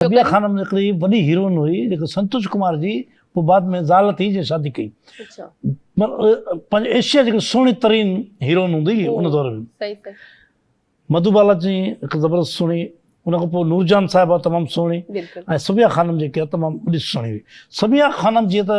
طبيعه خانم هڪڙي وڏي هيروئن هئي جيڪا سنتوش ڪمار جي پوء بعد ۾ زال ٿي جنهن شادي ڪئي پنهنجي ايشيا جي سهڻي ترين هيروئن هوندي هئي ان دور ۾ مڌو بالا جي هڪ زبردست سهڻي ان کان پوء نور جان صاحبه تمام سهڻي ۽ سبيا خانم جيڪي تمام وڏي سهڻي هئي سبيا خانم جي ته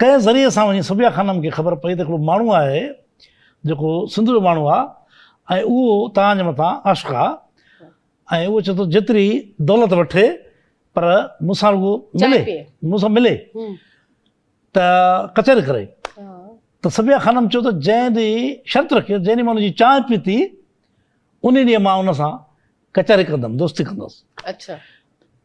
ڪنهن ذريعي سان وڃي صبيحه خانم کي خبر پئي ته هڪڙو ماڻهو آهي جيڪو سنڌ جو ماڻهو آ ۽ اهو توهان جي مٿان عاشق آ ۽ اهو چئي ٿو جيتري دولت وٺي پر مون سان رڳو ملي مون سان ملي ته ڪچهري ڪري ته صبيحه خانم چيو ته جنهن ڏينهن شرط رکي جنهن ڏينهن مان ان جي چانهه پيتي ان ڏينهن مان ان سان ڪچهري ڪندم دوستي ڪندس اڇا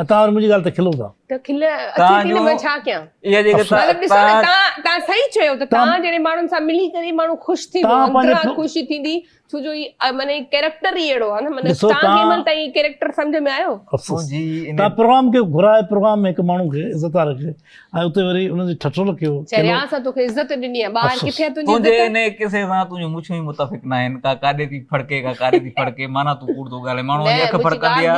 ۽ توهان وري منهنجي ڳالهه تي کلو ٿا. ته کل اچي ٿي نه مان ڇا ڪيان؟ مطلب ڏسو نه توهان توهان صحيح چيو ته توهان جهڙي ماڻهن سان ملي ڪري ماڻهو خوش ٿيندو اندرا خوشي ٿيندي ڇو جو هي معنيٰ هي ڪيريڪٽر ئي اهڙو آهي نه مطلب توهان کي مل تائين ڪيريڪٽر سمجهه ۾ آيو توهان پروگرام کي گهرائي پروگرام ۾ هڪ ماڻهو کي عزت آ رکي ۽ اتي وري ان جي ٺٺول کي چريا سا تو کي عزت ڏني آ ٻاهر ڪٿي تنهنجي عزت تنهنجي ان قصي سان تنهنجو مڇون ئي متفق ناهن ڪا ڪاڏي ٿي ڦڙڪي ڪا ڪاڏي ٿي ڦڙڪي معنيٰ تو ڪوڙ تو ڳالهائين ماڻهو جي اک ڦڙڪندي آ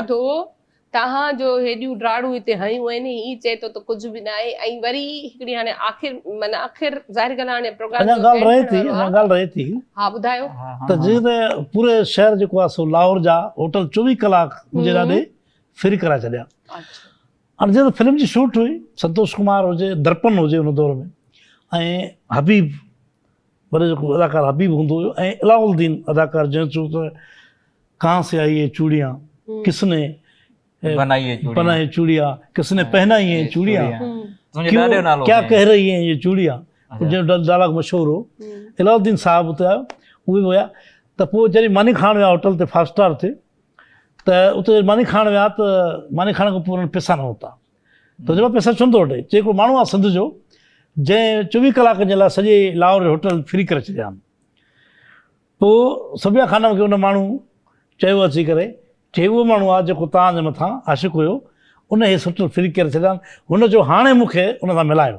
توهان جو هيڏيون ڊاڙون هتي هنيون آهن هي چئي ٿو ته ڪجهه به نه آهي ۽ وري هڪڙي هاڻي آخر معنيٰ آخر ظاهر ڳالهه آهي هاڻي پروگرام جو اينڊ ٿيڻ وارو آهي اڃا ڳالهه رهي ٿي ها ٻڌايو ته جيئن ته پوري شهر جيڪو آهي سو لاهور جا هوٽل چوويهه ڪلاڪ منهنجي ڏاڏي فري ڪرائي ڇڏيا هاڻي جيئن ته فلم جي شوٽ هئي سنتوش ڪمار هجي درپن هجي ان دور ۾ ۽ حبيب پر جيڪو اداڪار حبيب هوندو هيو ۽ علاء الدين اداڪار جنهن چيو ته ڪهان سي آئي اي چوڙيان ڪس ني بنائي چوڙيا ڪس ني پهنائي اي چوڙيا ڪيا ڪهه رهي هين اي چوڙيا جنهن جو ڊائلاگ مشهور هو علاء الدين صاحب اتي آيو اهي به ويا ته پوء جڏهن ماني کائڻ ويا هوٽل تي فائو اسٽار تي ته اتي ماني کائڻ ويا ته ماني کائڻ کان پوء انهن پيسا نه ورتا تجربو پئي سچ هوندو وٽي چي هڪڙو ماڻهو آ سنڌ جو جنهن چويهه ڪلاڪن جي لاء سڄي لاهور جو هوٽل فري ڪري ڇڏيائين پو صبيا خانم کي ان ماڻهو چيو اچي ڪري چي اهو ماڻهو آ جيڪو توهان جي مٿان عاشق هيو ان هي هوٽل فري ڪري ڇڏيائين هن چيو هاڻي مون کي ان سان ملايو.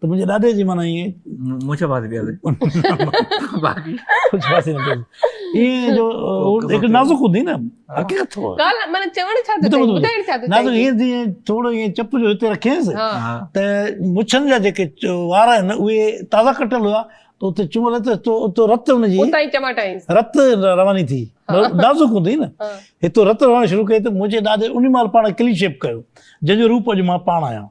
ته منهنجي ڏاڏي جي معنيٰ ائين مونجهه پاسي پيا ويهن باقي ڪجهه پاسي نه پيا ائين جو هڪ نازڪ هوندي نه حقيقت ٿو ڳالهه معنيٰ چوڻ ڇا ٿو چاهي ٻڌائڻ ڇا ٿو چاهي نازڪ ائين جيئن ٿورو ائين چپ جو هتي رکيس ته مڇن جا جيڪي وار آهن اهي تازا ڪٽل هئا ته اتي چمل ته اتو رت ان جي اتان ئي چماٽائينس رت رواني ٿي نازڪ هوندي نه هتو رت رواني شروع ڪئي ته منهنجي ڏاڏي ان مهل پاڻ کي ڪلين شيپ ڪيو جنهن جو روپ اڄ مان پاڻ آهيان